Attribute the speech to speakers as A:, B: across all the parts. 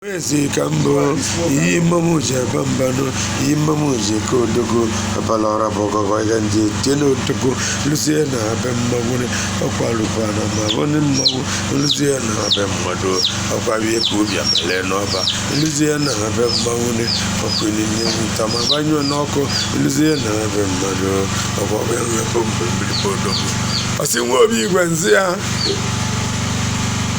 A: ezi ka mbụ iyi mmọnwụ ji ebe mbanụ iyi mmọnwụ ji eke odogo abala ọra bụ ọgọgọ ihe ndị tie na odogo lụzie na be mmọnwụ ọkwa lụkwa na ma bụ ndị mmọnwụ lụzie na be mmadụ ọkwa wie ka obi abale n'ọba lụzie na be mmọnwụ ọkụ n'ime nwụta ma gbanyụọ n'ọkụ lụzie na be mmadụ ọkwa ọbịa nwe bụ mgbe mmiri bụ odogo ọsị nwa obi igwe nzi ya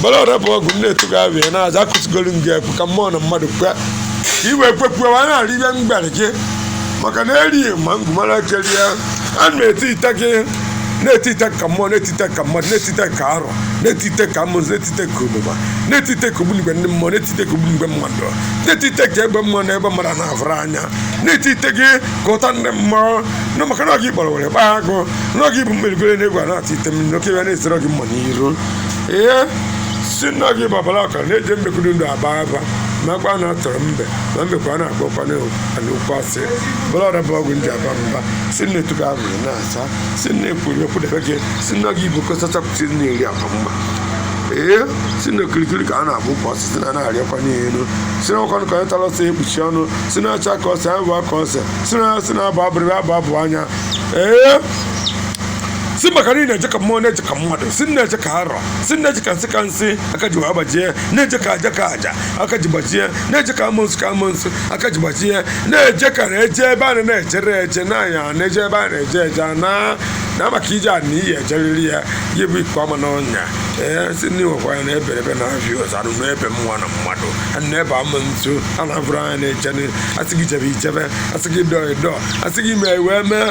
A: mbara ọra bụ ọgwụ nne etugo abịa na aza akụsigolu nga ekwu ka mmụọ na mmadụ kwe ka i wee kwekwuo wa na-arị ihe mgbere gị maka na erighị ma ngwumara keri ya a na-etite gị na-etite ka mmụọ na-etite ka mmadụ na-etite ka arọ na-etite ka amụnsụ na-etite ka ogbugba na-etite ka ogbunigwe ndị mmụọ na-etite ka ogbunigwe mmadụ na-etite ka egbe mmụọ na egbe mmadụ na-avụrụ anya na-etite gị ka ụta ndị mmụọ na maka na ọ gị kpọrọ were gbaa agụ na ọ gị bụ mmerigoro na egwu a na-atụ ite mmiri n'oke ya na-ezere gị mma n'iru ee si na gị babara ọkara na-eji mbekwuru ndụ aba aba nakwa na atọrọ mbe na mbekwa a na-akpọkwa n'okwu asị abala ọra bụ ọgwụ nji aba mba si na etuga ahụrụ na-asa si na ekwuru ekwudebe gị si na gị bụ kọsachapụta na-eri aba mba ee si na okirikiri ka a na-agba ukwu osisi na na-arịakwa n'elu si na ọkwanụ ka onye tara ọsọ ekpuchi ọnụ si na acha ka ọsọ ya bụ aka ọsọ si na ya si na abụ abụrịrị abụ abụ anya ee si maka na ị na-eje ka mmụọ na-eje ka mmadụ si na-eje ka arọ si na-eje ka nsị ka nsị aka ji agbajie na-eje ka aja ka aja aka ji gbajie na-eje ka amụnsụ ka amụnsụ aka ji gbajie na-eje ka na-eje ebe a na-ejere eje na anya na-eje ebe a na-eje eje na na maka ije a na iyi ejeriri ya ya bụ iko ama n'ọnya ee si ndị nwekwa ya na ebere ebe na-abịa ụzọ anụ n'ebe mmụọ na mmadụ na ebe amụnsụ a na-abụrụ anya na-eje asị gị jebe i jebe asị gị dọọ ị dọọ asị gị mee wee mee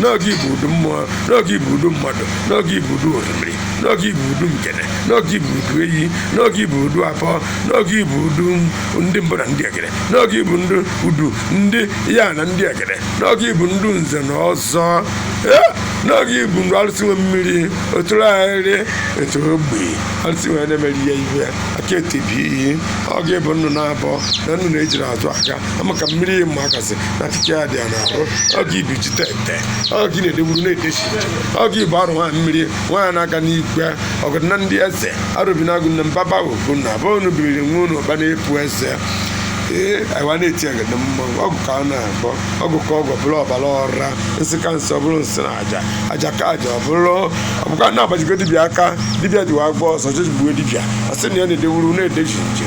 A: na ọ gị bụ udu mmụọ na ọ gị bụ udu mmadụ na ọ gị bụ udu orimiri na ọ gị bụ udu nkene na ọ gị bụ udu eyi na ọ gị bụ udu afọ na ọ gị bụ udu ndị mbụ na ndị egede na ọ gị bụ ndị udu ndị ya na ndị egede na ọ gị bụ ndị nze na ọzọ Eh, na ọ gị bụ ndị arụsị nwe mmiri otụrụ ahịrị etu ogbe arụsị nwe na-emeri ya iwe aka etebi iyi ọ gị bụ nnụ na-abọ na nnụ na-ejiri azụ aka ama ka mmiri ihe mma akasị na achịcha ya dị ya n'ahụ ọ gị iduchi tete ọ gị na-edewuru na-edechi ọ gị bụ arụ nwaanyị mmiri nwaanyị na-aga n'igwe ọgọdụ na ndị eze arụbinagụ na mbaba ogo na abụ unu biriri nwa unu ọba na-epu eze ee anyị wa na-eti agaba mmanwụ ọgwụ ka a na-akpọ ọgwụ ka ọgwụ bụrụ ọbara ọra nsị ka nsị ọ bụrụ nsị na aja aja ka aja ọ bụrụ ọ bụkwa na-agbajigo dibịa aka dibịa jiwa agba ọsọ jejigbuo dibịa asị na ya na-edewuru na-edechi nje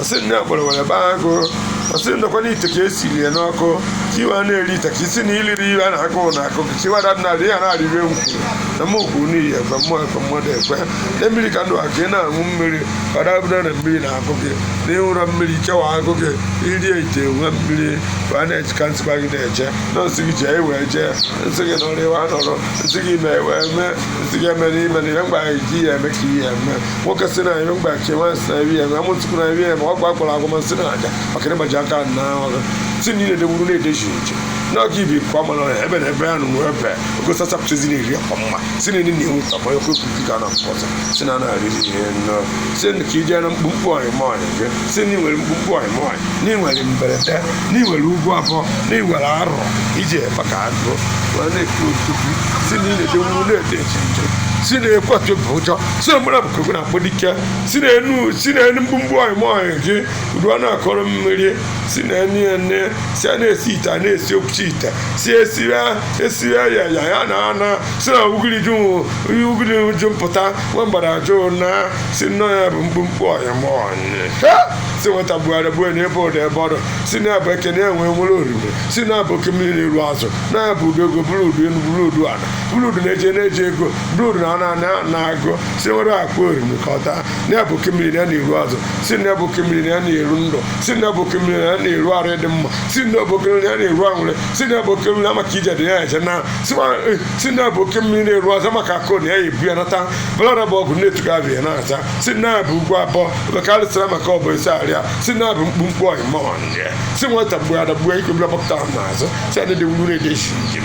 A: ọsị nne kpọrọ were baa agụ ọsị ndọkwa n'ite ka esiri ya n'ọkụ ka i wee na-eri ite ka isi na iliri iwe a na-akụ na akụ ka iwe ada na ya na-arịrị ewu kwuru na m okwu n'ihi ekwe mmụọ ekwe mmadụ ekwe na mmiri ka ndụ a ka ị na-aṅụ mmiri ọ dabụda na mmiri na akụ gị na ị ṅụrọ mmiri chewa akụ gị irie ite nwe mmiri bụ a na-eji ka m sịkwa gị na-eje na m sị gị jee wee jee m sị gị nọrọ i wee nọrọ m sị gị mee wee mee m sị gị emena i mena ihe mgbe anyị ji ya eme ka ihe eme nwoke si na anyị mgbachi nwaanyị si na nri ya ma amụ tupu na nri ya ma ọ gwa gwara agwa masị na aja maka ịgbaji aka na ọrụ si na ile dewuru na-edeji uche na ọka ibi nke ọma na ebe na ebe ya nụ ebe ogo sachapụtazi na-eri akwa mma si na ndị na-enwe ka manya kwepụ ka na mpọta si na na-arị ihe nnọọ si na ka ije na mkpumkpu ọnyịmọnyị gị si na i nwere mkpumkpu ọnyịmọnyị na i nwere mberede na i nwere ugwu abụọ na i nwere arọ ije ebe ka agụ wee na-ekwu otutu si na ị na-edewuru na-edeji uche si na ekwetụ bụ ụjọ si na mara bụkoko na-akpọ dike si na enu si na enu mkpumkpu ọyịmọyị gị udu a na-akọrọ mmiri si na enu ene si a na-esi ite a na-esi okwuchi ite si esiri esiri ya ya ya na ana si na ugiri ju ugiri ju mpụta nwa mgbada ajụ na si nnọ ya bụ mkpumkpu ọyịmọyị ha si nweta bugharị bụ na ebe ụda ebe ọdụ si na-abụ eke na-enwe nwere oriri si na-abụ oke mmiri na-eru azụ na ya bụ udu ego bụrụ udu enu bụrụ udu ala bụrụ udu na-eje na-eje ego bụrụ udu na ana na-agụ si nwere akpa oriri ka ọ taa na-abụ oke mmiri na na-eru azụ si na-abụ oke mmiri na na-eru ndụ si na-abụ oke mmiri na na-eru arụ dị mma si na-abụ oke mmiri na na-eru anwụrị si na-abụ oke mmiri na maka ije dị ya eje na si na-abụ oke mmiri na-eru azụ maka akụ na ya ebu ya nata bụlara bụ ọgụ na-etuga abụ ya na-ata si na-abụ ugwu abụọ bekarịsịra maka ọ bụ isi arịa si na-abụ mkpumkpu ọyịmọyị si nweta mgbe adagbuo ikobila gbapụta n'azụ si a na-edewuru na-edechi njem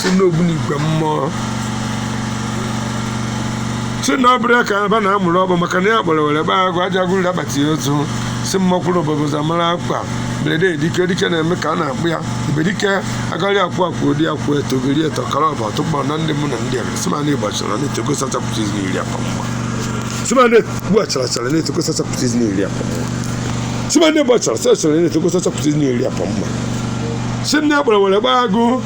A: si n'ogbunigwe mmụọ si na ọ bụrụ ya ka aba na-amụrụ ọ bụ maka na ya kpọrọ were gbaa agụ aja gụrụ akpati ozu si mmakwụrụ obodo zamara akpa mberede dike dike na-eme ka a na-akpụ ya ibe dike agaghị akwụ akwụ ụdị ya kwụ eto geri eto kara ọba tụkpọ na ndị mụ na ndị ebe si ma na ịgbachara na etogo sachapụta izi n'iri akpa mma si ma na ịgbachara chara na etogo sachapụta izi n'iri akpa mma si ma na ịgbachara sachara na etogo sachapụta izi n'iri akpa mma si nne ya kpọrọ were gbaa agụ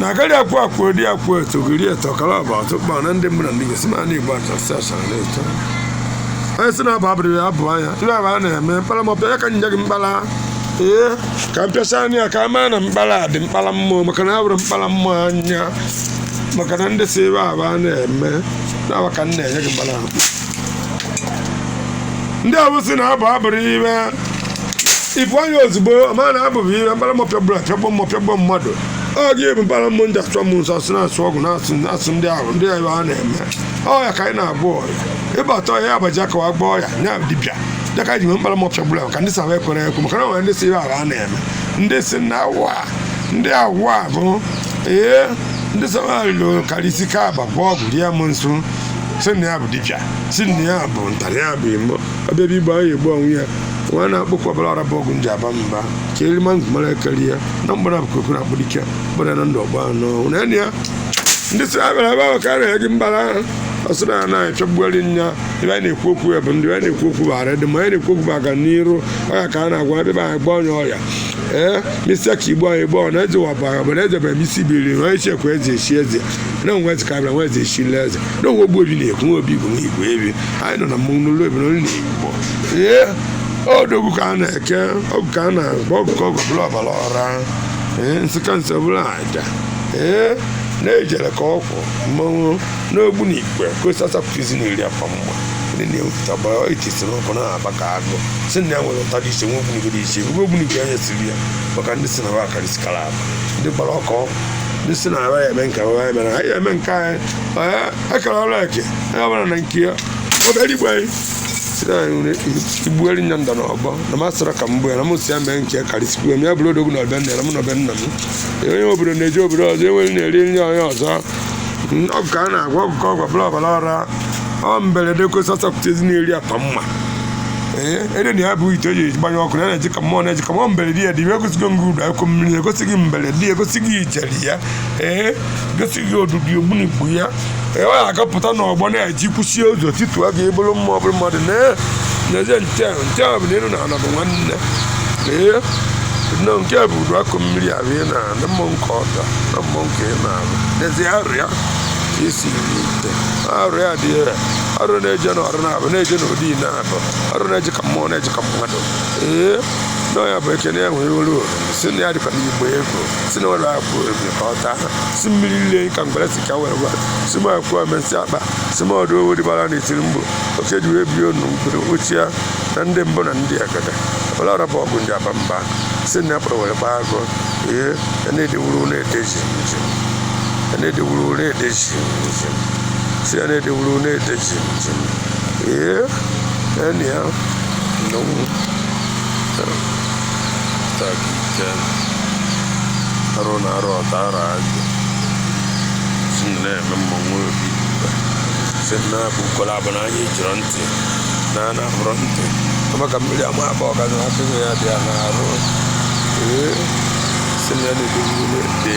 A: na agaghị akwụ akwụ eri akwụ eto giri eto kara ọba ọtụ kpa na ndị mmadụ ndị ga-esi naanị igbo achasị achara na-eto onye si na-abụ abụrụ ya abụ anya tụrụ abụ a na-eme mkpara mọpịa ya ka m nye gị mkpara ee ka m pịasa anya ya ka a maa na mkpara dị mkpara mmụọ maka na abụrụ mkpara mmụọ anya maka na ndị si ebe abụ a na-eme na-awa ka m na-enye gị mkpara ndị awụsị na-abụ abụrụ iwe ibu anya ozugbo ma na abụbụ iwe mkpara mọpịa gburu apịagbo mọpịagbo mmadụ ọ ga-ebu mkpara mmụọ ndị achọ m nsọ asị na-asụ ọgwụ na-asụ asụ ndị ahụ ndị ahụ a na-eme ọya ka anyị na-abụ ọya ịbata ọya abaja ka wa gbaa ọya ya dibịa ya ka ji nwe mkpara mọpịa gburu ahụ ka ndị saba ekwere ekwe maka na nwere ndị si ihe ahụ a na-eme ndị si na awa ndị awa bụ ee ndị saba lụrụ karịsị ka abakwa ọgwụ rie m nso si na ya bụ dibịa si na ya bụ ntarị ya bụ imo ọbịa bụ igbo ahụ egbu onwe ya nwa na-akpụkwa ọbara ọra bụ ọgwụ nji aba mba ka eri ma mara ekeri ya na mgbara bụ kokoro akpụ dike gbara na ndụ ọgba anọ na enyi ya ndị si abịara ebe ahụ ka a na-enye gị mbara ahụ ọsị na anaghị echọgbughari nya ebe anyị na-ekwu okwu ya bụ ndị anyị na-ekwu okwu bụ ara dị ma anyị na-ekwu okwu bụ aga n'iru ọya ka a na-agwa ebe anyị gba onye ọya ee misia ka igbo anyị gbọọ na eze wabara bụ na eze bụ emisi biri na onye chekwa eze echi eze na onwe eze ka bịa nwa eze echirila eze na onwe ogbu obi na-ekwu nwa obi bụ nwa igbo ebi anyị nọ na mmọnwụ n'olu ebe n'olu na igbo ee odogwu ka a na-eke ọgwụ ka a na-agba ọgwụ ka ọgwụ bụrụ ọbara ọra ee nsịka nsọ bụrụ aja ee na-ejere ka ọkwụ mmanwụ n'ogbunigwe ka osi asapụtụzi na iri afọ mgba ndị na-ewepụta gbara itisi n'ọkụ na-aba ka agụ si na ya nwere ụta dị iche nwe ogbunigwe dị iche ebe ogbunigwe anya siri ya maka ndị si na ba akarịsikara aba ndị gbara ọkọ ndị si na ara ya eme nke ara ya mere anyị eme nke anyị ee akara ọrụ eke onye ọbụla na nke ya obere igbe anyị site na nri igbueri nya nda na ọbọ na masịra ka m bụ ya na m si ya mee nke karịsikwu ya ma ya bụrụ odogwu na ọbịa nna ya na mụ na ọbịa nna m Ya onye obodo na-eji obodo ọzọ enweghị na-eri nri onye ọzọ ọgwụ ka a na-agwọ ọgwụ ka ọgwụ bụrụ ọbara ọra ọ mberede kwesị ọsọpụta ezi na-eri akpa mma ee ede na ya bụ ite eji gbanye ọkụ na-eje ka mmụọ na-eje ka mmụọ mberede ya dị iwe egosigo gị udu akọ mmiri egosi gị mberede ya egosi gị ijele ya ee egosi gị odudu ogbunigbu ya ee ọ na-agapụta n'ọgbọ na-eji kwụsie ụzọ tituo gị ịbụrụ mmụọ bụrụ mmadụ na-eje nche nche bụ na elu na ala bụ nwanne ee nọ nke bụ udu akọ mmiri ahụ ị na-anụ mmụọ nke ọta na mmụọ nke ị na-anụ n'ezie arụ ya isi ite arụ ya dị ya ọrụ na-eje na ọrụ na-abụ na-eje na ụdị na abụ ọrụ na-eje ka mmụọ na-eje ka mmadụ ee na ya bụ ekene ya nwere olu si na ya dịkwa n'igbo ego si na ọrụ akwụ ebe ka ọ taa si mmiri ile ka mgbere si ka were gwara si m akwụ omesi akpa si m ọdụ owo dịbara na itiri mgbe oke ji wee bie ọnụ mkpụrụ ochie ya na ndị mbụ na ndị egede ọla ọrụ bụ ọgụ ndị aba mba si na ya kpọrọ were gbaa agụ ee ya na-edewuru na-edeji njem ya na-edewuru na-edeji njem si ya na-edewuru na-ede jim jim ee enyi ya nnọnwụ takike arụ na arụ ọtara ajụ si na-eme mmanwụ obi igwe si na-abụ ukwara abụ na anyị jụrụ ntị na a na-abụrụ ntị kama ka mmiri ama aba ọgazi na atụghị ya dị ya na arụ ee si na ya na-edewuru na-ede